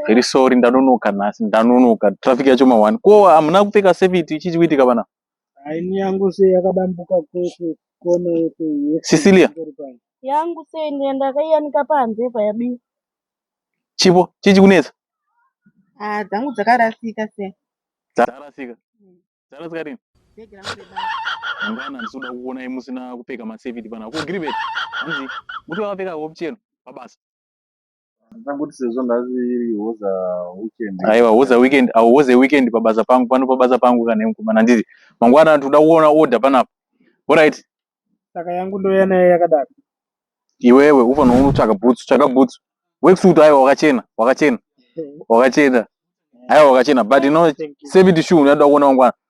Very sorry ndanonoka nhasi ndanonoka traffic yacho ma one ko hamuna kupfeka safety chii chikuitika vana haini yangu sei yakadambuka kose kone yese Cecilia yangu sei ndiye ndakaiyanika panze payabi chipo chii chikunetsa ah dzangu dzakarasika sei dzarasika dzarasika rini mangwana ndisoda kuonai musina kupfeka masafety pana ko gribet hanzi muti wakapfeka hope chero pabasa Ndangoti sezvo nhasi iri hoza weekend. Aiwa hoza weekend, awo hoza weekend pabasa pangu pano pabasa pangu kana mukomana ndizi. Mangwana tinoda kuona order panapa. All right. Saka yangu ndoya naye yakadaro. Iwewe ufana unotsvaka boots, tsvaka boots. Worksuit aiwa wakachena, wakachena. Wakachena. Aiwa wakachena but no seventy shoe unoda kuona mangwana.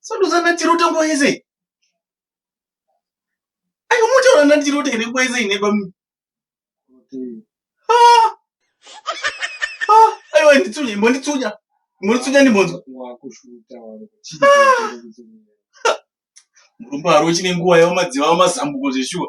Sadudzana chiroto nguva yese. Ayo motaura nani chiroto ine nguva yese ine bami. Ah! Ah! Ayo nditsunya, imbonditsunya. Imbonditsunya ndimbonzwa. Wakushuta wari. Ah! Murumba haro chine nguva yawo madziva mazambuko zveshuwa.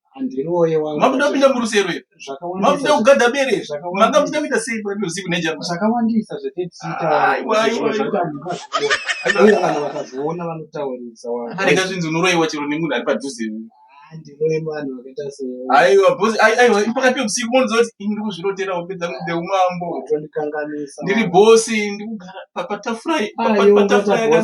makuda kupinda murusero here makuda kugadha bere here manga muchida kuita sei paruzivi nezvakawandisa zvatetiitaarega zvinzi unoroiwa chero nemunhu ari padhuze aiwa bhosi aiwa pakati peusiku monoziva kuti ini ndiri kuzvirotera hope dzangu dzeumambo ndiri bhosi ndiri kugara patafura patafura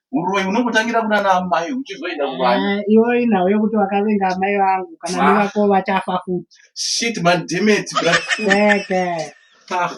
Uroyi unongotangira kuna ana amai uchizoenda kuvana. Ah, iwe inhau yekuti wakavenga amai vangu kana Ah. nevako vachafa futi. Shit man, damn it, bro. Keke. Ah.